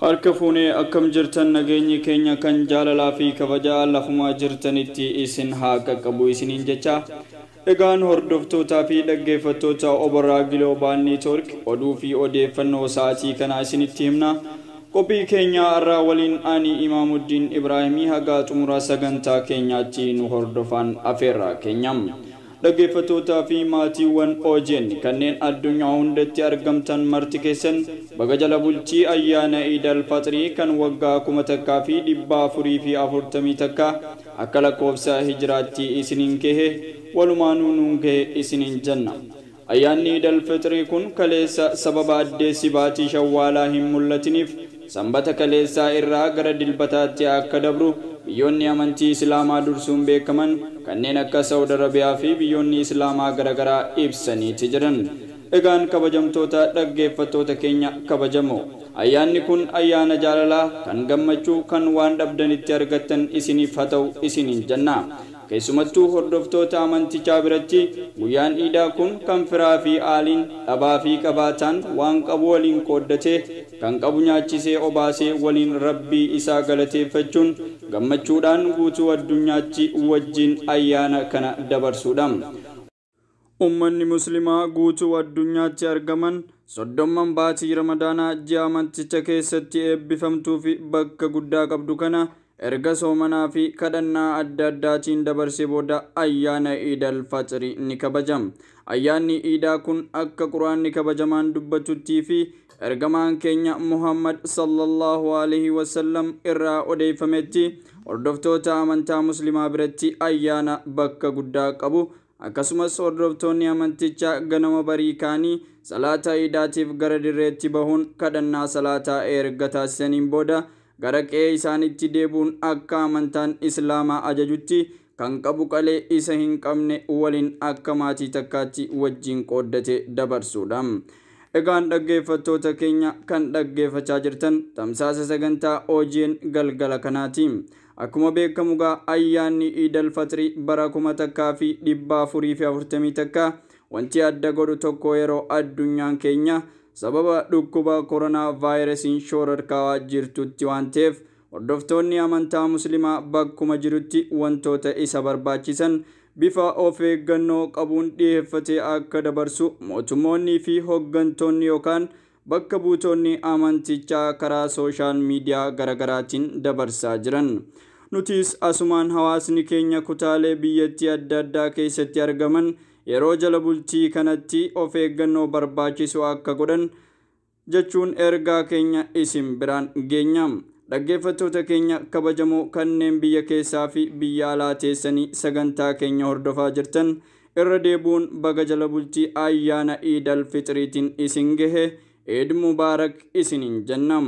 Harka fuune akkam jirtan nageenyi keenya kan jaalalaa fi kabajaa lafuma jirtanitti isin haa qaqqabu isiniin jechaa egaan hordoftootaa fi dhaggeeffattoota Oboraa Giloobaal Neetwork oduu fi odeeffannoo sa'aatii kanaa isinitti himna qophii keenyaa arraa waliin ani Imaamuddiin Ibraahimii hagaa xumura sagantaa keenyaatti nu hordofaan afeerraa keenya Dhaggeeffatootaa fi maatiiwwan OGN kanneen addunyaa hundatti argamtan marti keessan baga jala bultii ayyaana Iid Al Faxrii kan waggaa 1441 akka lakkoofsa Hijraattii isiniin gehe walumaanuu nuun gehe isiniin jenna. Ayyaanni Iid Al Fixrii kun kaleessa sababa addeessi baatii Shawwaalaa hin mul'atiniif, Sanbata kaleessaa irraa gara Dilbataatti akka dabru biyyoonni amantii Islaamaa dursuun beekaman kanneen akka Sa'ud Arabiyaa fi biyyoonni Islaamaa garagaraa ibsaniiti jiran. Egaan kabajamtoota dhaggeeffattoota keenya kabajamoo. Ayyaanni kun ayyaana jaalalaa, kan gammachuu, kan waan dhabdan itti argattan isiniif hata'u isiniin jenna. Keessumattuu hordoftoota amantichaa biratti guyyaan Iidaa kun kan firaa fi aaliin, dhabaa fi qabaataan waan qabu waliin qooddatee, kan qabu nyaachisee obaasee waliin Rabbii isaa galateeffachuun gammachuudhaan guutuu addunyaatti wajjiin ayyaana kana dabarsuudha. Ummanni Muslimaa guutuu addunyaatti argaman soddomman baatii Ramadaanaa ji'a amanticha keessatti eebbifamtuufi bakka guddaa qabdu kana erga soomanaafi kadhannaa adda addaatiin dabarsee booda ayyaana Iid Al Faxri ni kabaja. Ayyaanni Iidaa kun akka Qur'aanni kabajamaan dubbatuttiifi Ergamaan keenya Muhammad sallallahu alaihi wasallam irraa odeeffametti hordoftoota amantaa muslimaa biratti ayyaana bakka guddaa qabu akkasumas hordoftoonni amantichaa ganama barii kaanii salaata iidaatiif gara dirreetti bahuun kadhannaa salaataa erga taasisaniin booda gara qe'ee isaanitti deebuun akka amantaan islaamaa ajajutti Kan qabu qalee isa hin qabne walin akka maatii takkaatti wajjiin qooddatee dabarsuudha. Egaan dhaggeeffattoota keenya kan dhaggeeffachaa jirtan tamsaasa sagantaa OGN galgala kanaati. Akkuma beekamu gaa ayyaanni Iidal Faxrii bara kuma takkaa fi dhibba afurii fi afurtamii takka wanti adda godhu tokko yeroo addunyaan keenya sababa dhukkuba koronaa vaayirasiin shoorarkaawaa jirtutti waan ta'eef Hordoftoonni amantaa Muslimaa bakkuma jirutti wantoota isa barbaachisan bifa of eeggannoo qabuun dhiheeffatee akka dabarsu mootummoonnii fi hoggantoonni yookaan bakka buutoonni amantichaa karaa sooshaal miidiyaa garagaraatiin dabarsaa jiran. Nutis asumaan hawaasni keenya kutaalee biyyattii adda addaa keessatti argaman yeroo jala bultii kanatti of eeggannoo barbaachisu akka godhan jechuun ergaa keenya isin biraan geenya. Dhaggeeffattoota keenya kabajamoo kanneen biyya keessaa fi biyya alaa teessanii sagantaa keenya hordofaa jirtan irra deebu'uun baga jala bultii ayyaana Iid Al Fixriitiin isin gehe, Eid Mubarak isiniin jenna.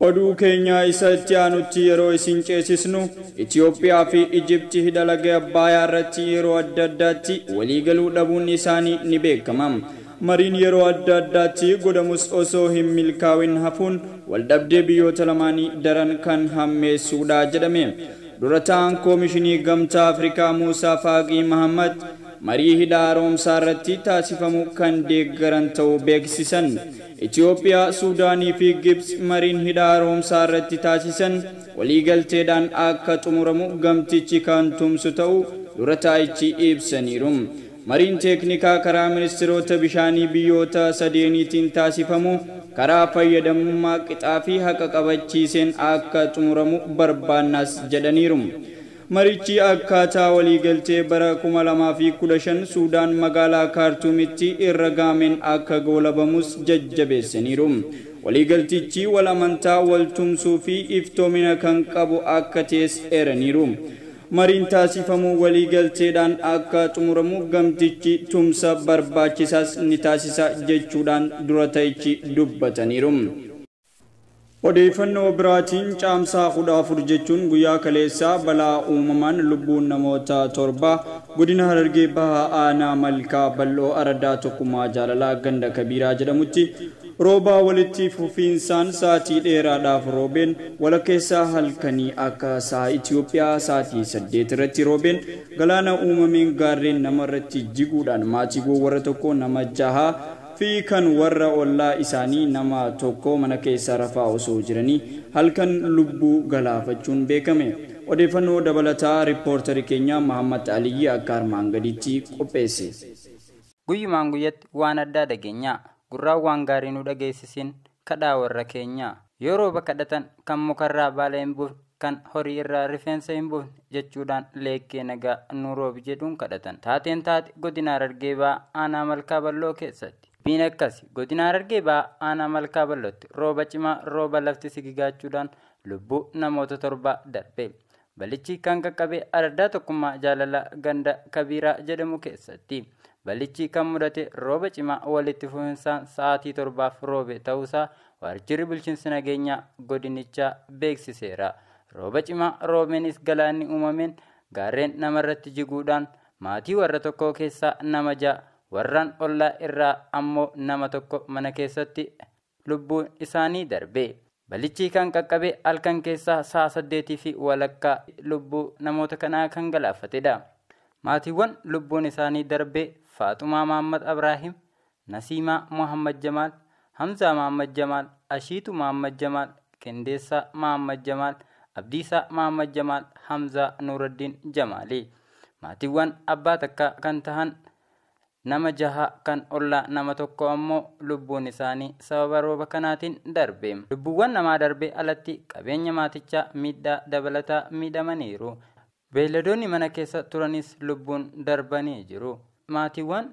Oduu keenya isa itti aanutti yeroo isin ceesisnu, Itiyoophiyaa fi Ijipti hidha laga Abbaayaa irratti yeroo adda addaatti walii galuu dhabuun isaanii ni beekama. Mariin yeroo adda addaatti godhamus osoo hin milkaawin hafuun waldhabdee biyyoota lamaanii daran kan hammeessuudha jedhame. Dura taa'aan Koomishinii Gamtaa Afrikaa Muusaa Faaqii Mahamat marii hidha haaromsaa irratti taasifamu kan deeggaran ta'uu beeksisan. Itiyoophiyaa, Suudaanii fi Gibtsi mariin Hidha Haaromsaa irratti taasisan waliigalteedhaan akka xumuramu gamtichi kan tumsu ta'uu dura taa'ichi ibsaniiru. Mariin teeknikaa karaa ministiroota bishaanii biyyoota sadeeniitiin taasifamu karaa fayyadamummaa qixaa fi haqa qabachiiseen akka xumuramu barbaannas jedhaniiru. Marichi akkaataa waliigaltee bara 2015 Suudaan magaalaa Kaartuumitti irra ga'ameen akka goolabamus jajjabeessaniiru. Waliigaltichi wal amantaa, wal tumsuu fi iftoomina kan qabu akka ta'es eeraniiru. Mariin taasifamu waliigalteedhaan akka xumuramu gamtichi tumsa barbaachisaas ni taasisa jechuudhaan dura ta'ichi dubbataniiru. Odeeffannoo biraatiin Caamsaa 14 jechuun guyyaa kaleessaa balaa uumamaan lubbuun namoota torbaa Godina Harargee Bahaa Aanaa Malkaa Bal'oo Araddaa Tokkummaa Jaalalaa Ganda Kabiiraa jedhamutti roobaa walitti fufiinsaan saatii dheeraadhaaf roobeen walakkeessaa halkanii akka sa'a Itiyoophiyaa saatii 8 irratti roobeen galaana uumameen gaarreen namarratti jiguudhaan maatiiwwan warra tokkoo nama jahaa fi kan warra ollaa isaanii nama tokkoo mana keessa rafaa osoo jiranii halkan lubbuu galaafachuun beekame. Odeeffannoo dabalataa Rippoortari keenya Mahammad Aliyyi akka armaan gadiitti qopheesse. Guyyumaan guyyatti waan addaa dhagenyaa. Gurraan waan gaarii nu dhageessisin kadhaa warra keenyaa. Yoo rooba kadhatan kan mukarraa baala hin buufne kan horii irraa rifeensa hin buufne jechuudhaan leekkee nagaa nuu roobi jedhuun kadhatan. Taateen taate godina Harargee Bahaa aanaa Malkaa Bal'oo keessatti. Dubbiin akkasi godina Harargee Bahaa aanaa Malkaa Bal'ootti rooba cimaa rooba lafti sigigaachuudhaan lubbuu namoota torbaa darbe. Balichi kan qaqqabe araddaa tokkummaa jaalalaa ganda Kabiiraa jedhamu keessatti. Balichi kan mudate rooba cimaa walitti fufinsaan sa'aatii torbaaf roobe ta'uusaa Waajjirri Bulchiinsa Nageenyaa godinichaa beeksiseera. Rooba cimaa roobeenis galaanni uumameen gaarreen namarratti jiguudhaan maatii warra tokkoo keessaa nama ja'a, warraan ollaa irraa ammoo nama tokko mana keessatti lubbuun isaanii darbe. Balichi kan qaqqabe halkan keessaa sa'a saddeetii fi walakkaa lubbuu namoota kanaa kan galaafatedha. Maatiiwwan lubbuun isaanii darbe Faaxumaa Mahammad Abraahim, Nasiimaa Mohammad Jamaal, Hamzaa Mohammad Jamaal, Ashiituu Mohammad Jamaal, Qindeessaa Mohammad Jamaal, Abdiisaa Mohammad Jamaal, Hamzaa Nuuraddiin Jamaali. Maatiiwwan abbaa takkaa kan tahan nama jaha kan ollaa nama tokkoo ammoo lubbuun isaanii sababa rooba kanaatiin darbe. Lubbuuwwan namaa darbee alatti qabeenya maatichaa miidhaa dabalataa miidhamaniiru. Beeyladoonni mana keessa turanis lubbuun darbanii jiru. Maatiiwwan